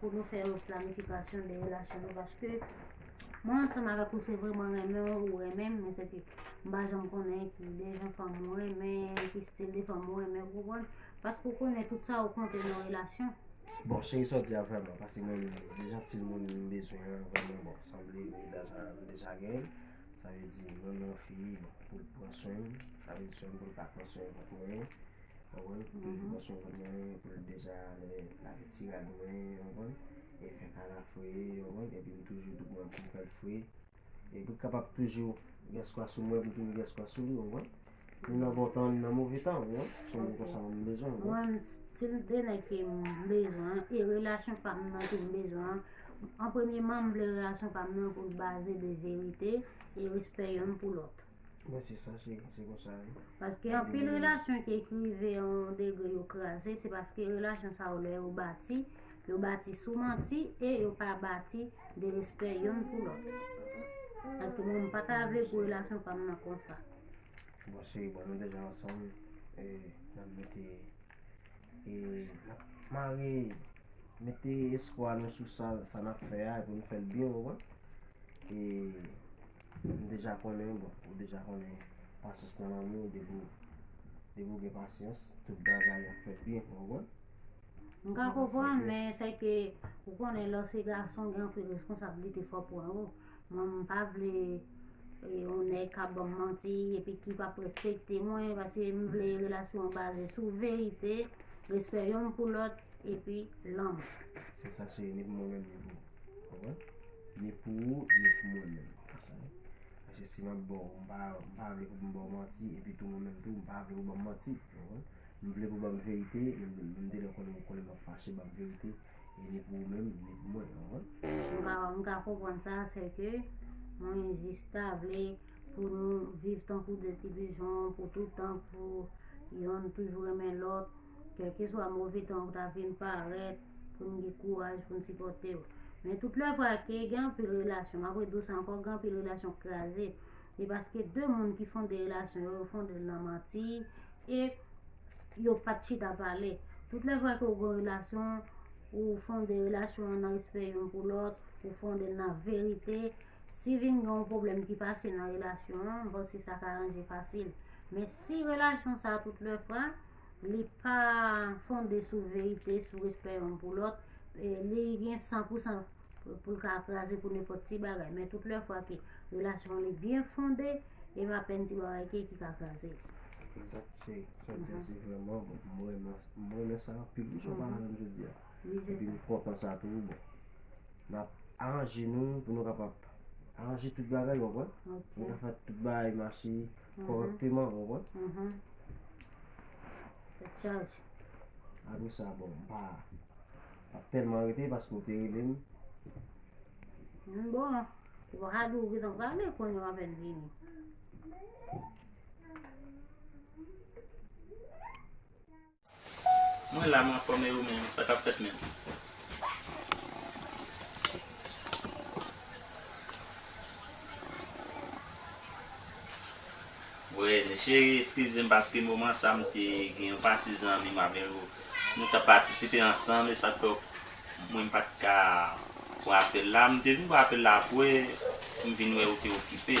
pou nou fè yon planifikasyon de relasyon nou paske mwen ansanm avèk ou se vre mwen renmen ou renmen men se ke mba janm konnen ki de jan fèm mwen renmen ki stil de fèm mwen renmen ou konprann paske ou konnen tout sa ou konte nan relasyon Bon, cheri sa w di a vrèman pase mwen menm de jan ti moun m bezwen an vrèman bon sanble m deja m deja gen l sa vle di m renmen yon fi bon pou l pran swen m sa vle di swen m pou l ka pran swen l pou mwen Ou konprann? Ou toujou panse ou konn anyen epi l deja ale ak ti rad mwen, ou konprann, e fè kara fre, ou konprann, epi m toujou tou pran kou m fè l fre. E pou l kapab toujou gen espwa sou mwen, pou l toujou gen espwa sou li, ou konprann. Ni nan bon tan, ni nan move tan, ou konprann. Se moun konsa mwen bezwen, ou konprann. Mwen, si m te nèg ke m bezwen, e relasyon pa m nan ke m bezwen, an premyeman m vle relasyon pa m nan pou l baze de verite e respè yonn pou lòt. Mwen se sa cheri se konsa ye. Paske anpil relasyon ki ekrive yon degre yo kraze, se paske relasyon sa yo lè yo bati, yo bati sou manti e yo pa bati de respè yon pou lòt. Paske mwen m pa ta vle pou relasyon pa m nan konsa. Bon cheri bon nou deja ansanm e nan mete e nan mare mete espwa nou sou sa sa nap fè a epi nou fèl byen ou wè e M deja konnen, bon ou deja konnen pasyans nan lanmou depi depi ou gen pasyans tout bagay ap fèt byen konprann. M ka konprann men se ke ou konnen lè w se gason gen anpil responsablite fò pran yo. Mwen m pa vle e, yon nèg ka ban m manti epi ki pa p respekte mwen paske m vle relasyon an baze sou verite, respè yonn pou lòt epi lanmou. Se sa cheri ni pou mwen menm ni pou ou. Konprann? Ni pou ou, ni pou mwen menm. Konprann? Paske si mwen ba w, m pa, m pa vle pou m ba w manti, epi tou mwen menm tou, m pa vle pou w ba m manti. Konprann? M vle pou w ba m verite, menm, menm de lè konnen, ou konnen m ap fache, ba m verite, e ni pou ou menm, ni pou mwen. Konprann? M ka, m ka konprann sa, sèke mwen jis ta vle pou nou viv tankou de ti pijon pou tout tan, pou yonn toujou renmen lòt. Kèlkeswa move tan ou ta vin parèt, pou n gen kouraj pou n sipòte w. Men tout lè vwa ke gen anpil relasyon, map redou sa ankò, gen anpil relasyon k kraze, e paske de moun ki fonde relasyon yo, yo fonde l nan manti, e yo pat chita pale. Tout lè vwa ke ou gen relasyon, ou fonde relasyon an nan respè youn pou lòt, ou fonde l nan verite, si vin gen yon pwoblèm ki pase nan relasyon an, m panse sa ka ranje fasil. Men si relasyon sa tout lè fwa, li pa fonde sou verite, sou respè yon pou lòt, li gen 100% pou l ka kraze pou nenpòt ti bagay. Men tout lè fwa ke relasyon li byen fonde, e m apèn ti bagay ke ki ka kraze. Exact chéri, sa w di a se vreman bon, m renmen, m renmen sa anpil wi sa w pale la m jodi a. Epi m kontan sa tou wi bon. N ap aranje nou pou nou kapab aranje tout bagay ou konprann? Pou nou ka fè tout bagay mache. Korekteman ou konprann? Uhmm Fèk chaj. Apre sa bon m pa tap tèlman rete paske ou te rele m. Bon, ou pa ka di ou gentan prale kon yo apèn vini. Mwen la m anfom e ou menm sa kap fet menm. Wee mes cherie eskizem paske moman sa m te gen yon pati zanmi m avè yo nou tap patisipe ansanm esak fè yo mwen m pat ka wè apel la m te vin wè apel la apwe m vin wè ou te okipe.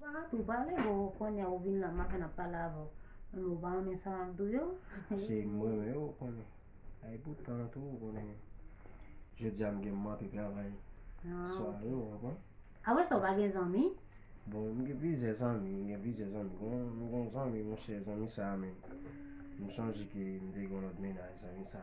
Parat ou pale bon konya ou vin la ma fèn ap pale avèw menm ou pa renmen sa map diw yo. Si m renmen yo ou konnen. E poutan tou ou konnen jodia m gen manke travay sware ou konprann. Apre sa ou pa gen zanmi? Bon m gen plizyè zanmi m gen plizyè zanmi gon m gon zanmi monchè zanmi sa menm m sonje ke m te gen yon lòt mennaj zanmi sa.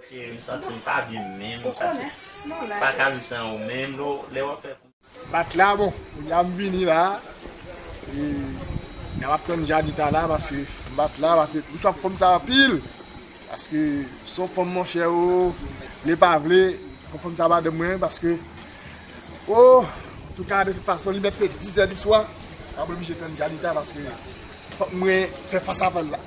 M santi m pa byen menm. Ou konnen. Non la. Pa ka viv san ou menm lè lè wap fè. Bat la bon kounye a m vini la e nan map tann Janita la paske m bat la paske m swaf fanm sa anpil paske son fanm monchè oo vle pa vle fò fanm sa madanm mwen paske oo antouka de tout fason li mèt fè 10 è di swa map oblije tann Janita paske fòk mwen fè fas avèl la.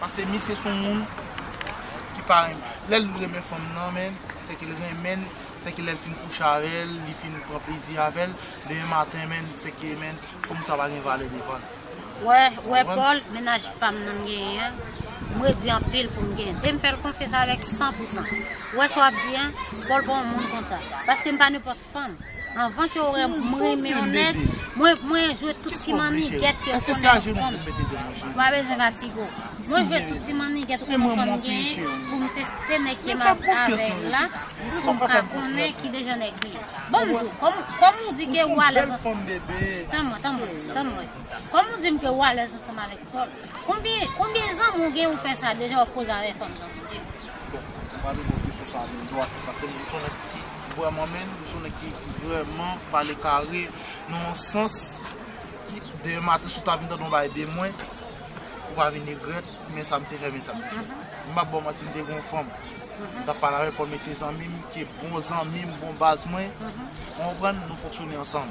Pase misye son moun ki pa renmen lèl renmen fanm nan men se ke l renmenl se ke lèl fin kouche avèl li fin pran plezi avèl demen maten men se ke men fanm sa pa gen valè devanl ou wè Paul mennaj pam nan m genyen an m redi anpil pou m genyen l e m fèl konfyans avèk 100 pousan ou wè sa wap di an Paul pa yon moun konsa paske m pa nenpòt ak fanm. Anvan ke w wè m, m renmen yon nèg, mwen jwe tout ti mannigèt ke w konnen ou konn. Ou pa bezwen fatigue w. Mwen jwe tout ti mannigèt ou konnen fanm genyen pou m teste nèg ke m ap avè l la jiska m ka konnen ki dejan nèg li ye. Bon m di w, kòm ou di ke ou alèz ansanm avè Paul. Tann mwen, tann mwen, tann mwen. Kòm ou di m ke ou alèz ansanm avè Paul, konbyen zanmi ou genyen ou fè sa deja w ap koze avè fanm zanmi w di m? Bon mwen pale bon kesyon sa menm dwat pase m son nèg ki vrèman menn m son nèg ki vrèman pale kare nan yon sans ki demen maten si w ta vin tande yon bagay de mwen ou pa vin regrèt men sa m te fè men sa m te fè m pap ba w manti m te gen yon fanm m tap pale avè l kòm mesye zanmi m ki bon zanmi m bon baz mwen ou konprann nou fonksyone ansanm.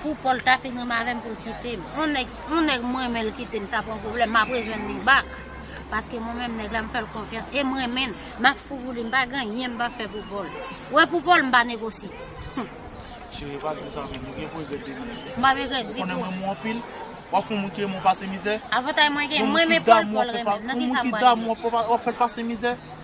Pou Paul ta fin renmen avèm poul kitem. On nèg on nèg m renmenl kitem sa pa yon pwoblèm map rejwenn li back paske mwen menm nèg la m fèl konfyans em renmenn map fou pou li m pa gen anyen m pap fè pou Paul. Wè pou Paul m pa negosye humm. Chérie pa di sa menm ou gen pou regrèt demen wi. M pap regrèt ditou. Ou konnen m renmen w anpil. Wap fon moun ki renmen w pase mizè. Avantay mwen gen m renmen Paul Paul renmen m nan kisa m pral regrèt. Yon moun ki damou an fòk wap fèl pase mizè.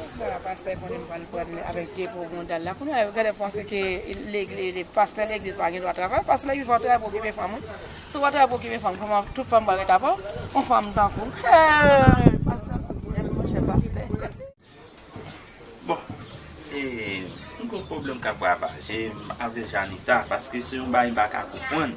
Poukisa pastè konnen pral pran avèk depo bondal la kounya yo genlè panse ke legliz pastè legliz pa gendwa travay pastè legliz pa travay pou okipe fanm wi si ou pa travay pou okipe fanm kòman tout fanm pral ret avèw yon fanm tankouw hee pastè sou grenn monchè pastè. Bon mwen gen yon pwoblèm kap ravajem avè janita paske se yon bagay m paka konprann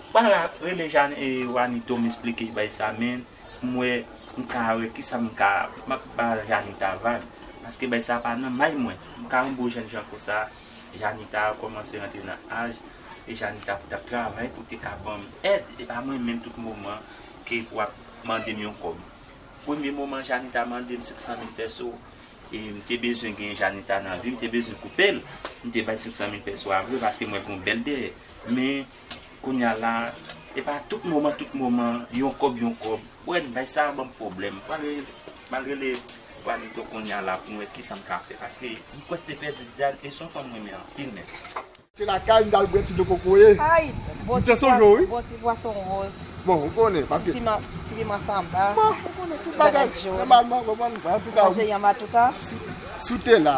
Bala rele Jane e Wanito m esplike bay sa men pou m wè m ka wè kisa m ka m ap ba Janita vag paske bay sa pa nan may mwen m ka yon gwo jènjan konsa Janita kòmanse rantre nan aj e Janita pou t ap travay pou te ka ban m èd e pa mwen menm tout moman ke pou ap mande m yon kòb premye moman Janita mande m 500 mil pèso e m te bezwen gen Janita nan vi m te bezwen koupe l m te bay 500 mil pèso a vre paske m wè l gen yon bèl dèyè men. Kounya la epa tout moman tout moman yon kòb yon kòb ou wè bagay sa banm pwoblèm pral rele Juanito kounya la poum wè kisam ka fè paske m prèske pèdi Diane e son fanm m renmen anpil menm. Se lakay m tal bwè ti dlo kokoye. Ayy bon ti pwason bon ti pwason rose. Bon ou konnen paske. Ti piman samba. Bon ou konnen tout bagay. Ti bagay jòn. Nòmalman ou konprann antouka. Manje yanm atouka. Si w te la.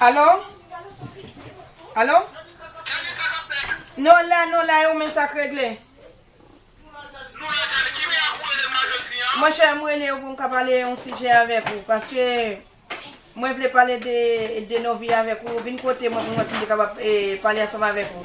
Alo? Alo? Nou la, nou la yo men sa k regle. Mwen chè m rele yo pou m ka pale yon sijè avèk ou paske mwen vle pale de Novi avèk ou. Vin kote mwen pou mwen si m te kapab pale ansanm avèk ou.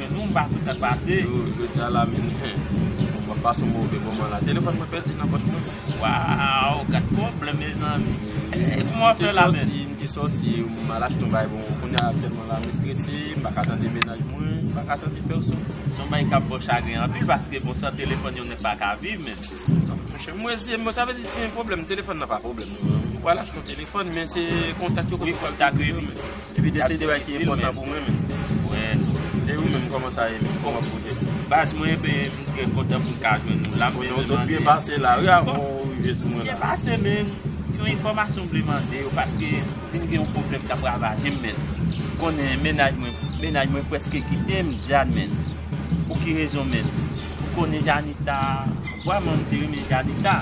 Siw pa konn sak pase. Yo jodi a la menm map pase yon move moman la telefòn mwen pèdi nan pòch mwen. Waw gad pwoblm mezanmi. Kouman wap fè la menm. M te soti m al achte yon bagay bon kounya aktiyèlman la m estrese m paka tande mennaj mwen m paka tande pèsòn. Son bagay kap baw chagren anpil paske bon san telefòn yon nèg paka viv menm. Monchè m wè zyem bon sa vle di gen pwoblm telefòn nan pa pwoblm non. M pwal achte yon telefòn men se kontak yo. Wi kontak yo wi. Epi 2 se 2 bagay ki enpòtan pou mwen menm. E ou menm kòman sa ye menm, kòman pou ou jwenn nou? Baz mwen ben m trè kontan pou m ka jwenn nou la. Bon nou sot byen pase la wi avan ou rive sou mwen la. Byen pase men yon enfòmasyon m vle mande ou paske m vin gen yon pwoblèm k ap ravaje m men. Ou konnen mennaj mwen, mennaj mwen prèske kite m Jeanne men. Pou ki rezon men? Ou konnen Jeannita? Vwaman m te renmen Jeannita.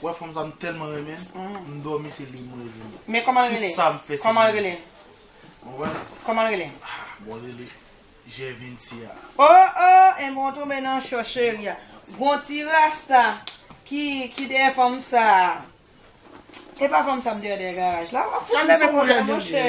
Ou wè fanm sa m tèlman renmen l, m dòmi se li m reve l. Men kòman l rele? Tout sa m fè se pou li. Ou wè? Kòman l rele? Ah bon l rele Gervincia. Oh oh enben w tonbe nan cho cheri a. Gon ti rasta ki dèyè fanm sa. Epa fanm sa m te wè dèyè garaj la. Wap fout m sou koulè monchè.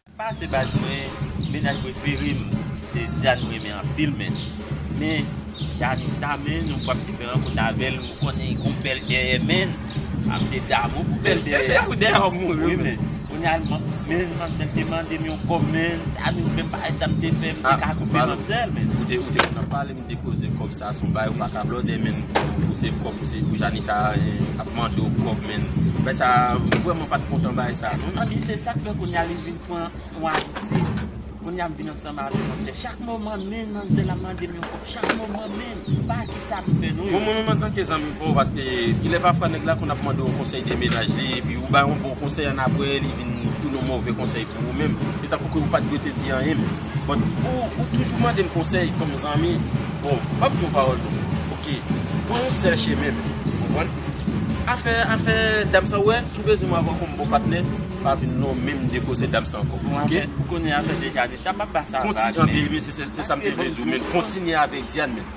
Pase baz mwen mennaj preferem se Diane mrenmen anpil men men Janita men yon fwa mte fè rankont avèl m konnen gon bèl dèyè menn a mte damou pou bèl dèyè a se pou dèyè wap mouri wi men kounya menn manmzèl te mandem yon kòb menn sa nou fèm pa wè sa mte fè mte ka koupe manmzèl menn. Li koze kob sa son bagay ou paka blòdè menn pou se kob se pou janika ap mande w kob menn bagay sa m vrèman pat kontan bagay sa non. Anmyy se sak fè kounya li vin pran yon abitid kounya m vin ansanm avèl nan se chak moman menn manzèl ap mandem yon kob chak moman menn m pa ki sa pou m fè non yo. Bon mwen menm antanke zanmi paw paske gilè pafwa nèg la konn ap mande w konsèy de mennaj li epi ou bay yon bon konsèy annapre li vin tounen yon move konsèy pou ou menm e tankou ke ou pat dwe te di anyen menm. But ou toujou mandem konsèy kòm zanmi bon map diw pawòl non ok pran yon sèl chemen menm ou konprann afè afè dam sa ou wè si ou bezwen mwen avèw kòm bon patnè pa vin non menm de koze dam sa ankò ok kontinye avèk Diane menm.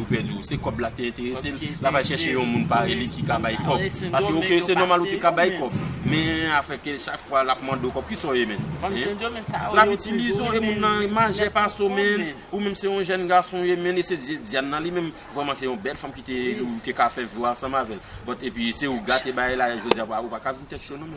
ou pèdi ou se kòb la te enterese l la pral chèche yon moun pare li ki ka bay kòb pase ok se nòmal ou te ka bay kòb men afè ke chak fwa lap mande w kòb ki sa w ye menn lap itilize w e moun nan majè pase w menn ou menm se yon jèn gason w ye menn e se Dianna li menm vrèman se yon bèl fanm ki te ou te ka fè vi w ansanm avè l but epi se ou gate bagay la jodi a ou pa ka vin tèt cho non.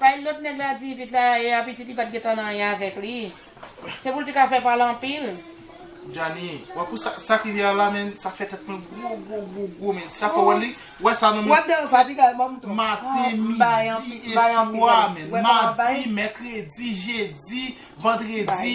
Pay lot nèg la di ipit la e a pitit li pat gentan nan anyen avèk li se poul te ka fè pale anpil. Djani wap ou sak rive a la men sa fè tèt mwen gwo gwo gwo gwo men sa fè wè li wè sa nan men maten midi e swa men madi mèkredi jedi vandredi.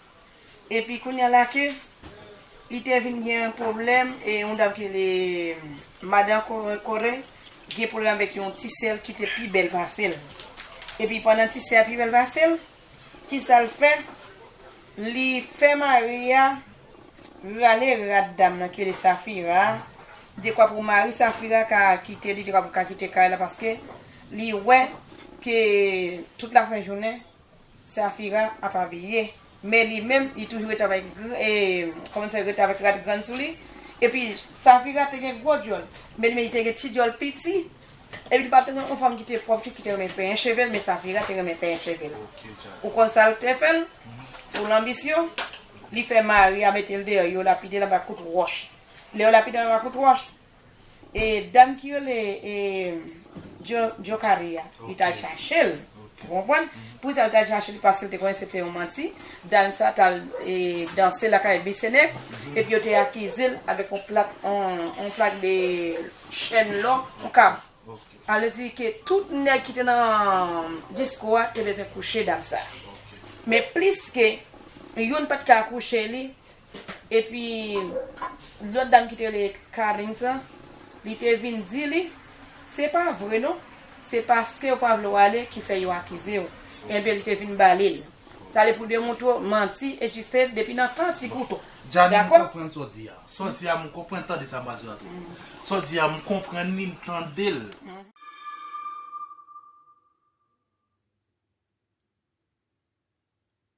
Epi kounya la ke li te vin gen yon pwoblèm e yon dam ki rele Madan Kore gen pwoblèm avèk yon ti sè l ki te pi bèl pase l. Epi pandan ti sè a pi bèl pase l, ki sa l fè? Li fè mari a rale rad dam nan ki rele Safira a dekwa pou mari Safira ka kite li, dekwa pou l ka kite kay la paske li wè ke tout lafen jounen. Safira ap abiye men li menm li toujou ret avèk kòman se ret avèk rad grann sou li epi Safira te gen gwo dyòl men li menm li te gen ti dyòl piti epi li pat renmen yon fanm ki te pwòp ki te renmen penyen cheve l men Safira te renmen penyen cheve l ou konn sa l te fè l pou l anbisyon li fè mari a mete l deyò yo lapide l anba kout wòch lè yo lapide l anba kout wòch E dam ki rele e Djokari a li tal chache l ou konprann poukisa li tal chache l paske li te konnen se te yon manti dam sa tal e danse lakay Bisenèk epi yo te akize l avèk yon plak yon plak de chèn lò yon kab sa vle di ke tout nèg ki te nan disko a te bezwen kouche dam sa men pliske youn pat ka kouche li Epi lòt dam ki te rele Carine sa, li te vin di li, se pa vre non, se paskew pa vle w ale ki fè yo akizew. Enben li te vin ba li l. Sa li pou demoutre w manti egziste depi nan tan ti kouto. Djani m konprann sa w di a. Sa w di a m konprann, tande sa m pral di w la tou. Sa w di a m konprann li, m tande l.